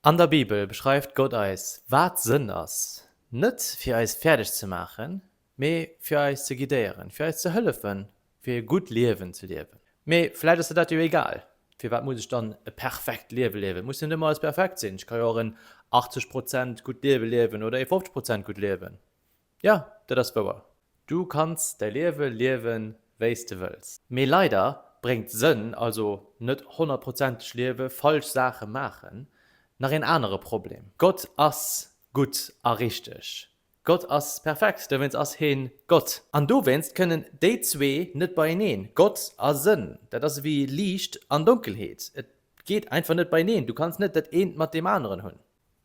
An der Bibel beschreift Gott eis, wat Sënn ass, net fir eis fäerdeg ze maachen, mee fir eis ze guidéieren, fir eis ze hëllefen, fir e gutt Liewen ze liewen. Mee vläicht ass der dat jo egal. Firwat muss ech dann e perfekt Liewe liewen? Et muss jo net ëmmer alles perfekt sinn. Ech ka jo och en 80 Prozent gutt Liewe liewen oder e 50 Prozent gutt Liewen. Jo, dat ass wouer. Du kanns däi Liewe liewen, wéi s de wëlls. Mee leider bréngt Sënn, also net honnertprozenteg liewe, falsch Saache maachen, nach een anere Problem. Gott ass gutt a richteg. Gott ass perfekt, dowéinst ass hee Gott. An dowéinst kënnen déi zwee net beieneen, Gott a Sënn. Dat ass ewéi Liicht an Donkelheet. Et geet einfach net beieneen. Du kanns net dat eent mat deem aneren hunn.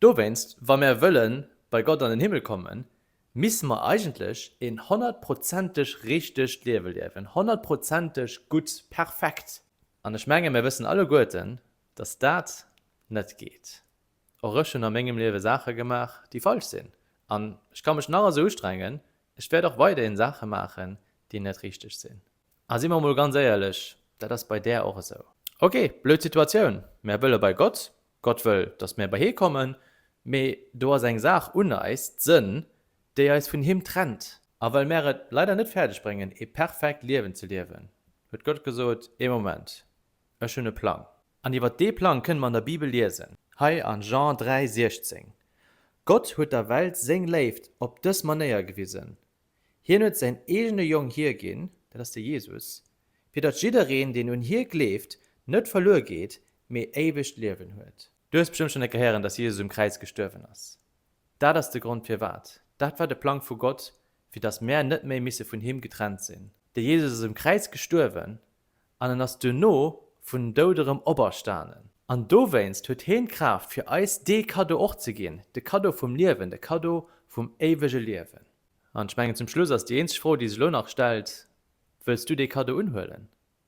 Dowéinst, wa mär wëlle bei Gott an den Himmel kommen, misste mer eigentlech een honnertprozenteg richtegt Liewe liewen, honnertprozenteg gutt, perfekt. An ech menge mir wëssen alleguerten, dass dat net geet. Och ech hunn a mengem Liewe Saache gemaach, déi falsch sinn. An ech ka mech nach esou ustrengen, ech wäert och weiderhin Saache maachen, déi net richteg sinn. A si mer emol ganz éierlech, dat ass bei där och esou. Ok, blöd Situatioun, mär wëlle bei Gott, Gott wëll, datt mär bei hie kommen, mee do ass eng Saach un eis, d'Sënn, déi eis vun him trennt. A well mär et leider net fäerdeg bréngen, ee perfekt Liewen ze liewen, huet Gott gesot, Ee Moment, ech hunn e Plang. An iwwer dee Plang kënne mer an der Bibel liesen, hei an Jean 3, 16, Gott huet der Welt seng Léift op dës Manéier gewisen, Hien huet säin eegene Jong hierginn, dat ass de Jesus, fir datt jiddereen, deen un hie gleeft, net verluer geet, mee éiwegt Liewen huet. Du hues bestëmmt schonn ecke héieren, datt Jesus um Kräiz gestuerwen ass. Dat ass de Grond firwat. Dat war de Plang vu Gott, fir datt mär net méi misse vun him getrennt sinn. De Jesus ass um Kräiz gestuerwen, an en ass duerno vun Doud erëm operstanen. An dowéinst huet heen d'Kraaft fir eis dee Cadeau och ze ginn, de Cadeau vum Liewen, de Cadeau vum éiwege Liewen. An ech mengen zum Schluss ass déi eenzeg Fro déi sech elo nach stellt, Wëlls du dee Cadeau unhuelen?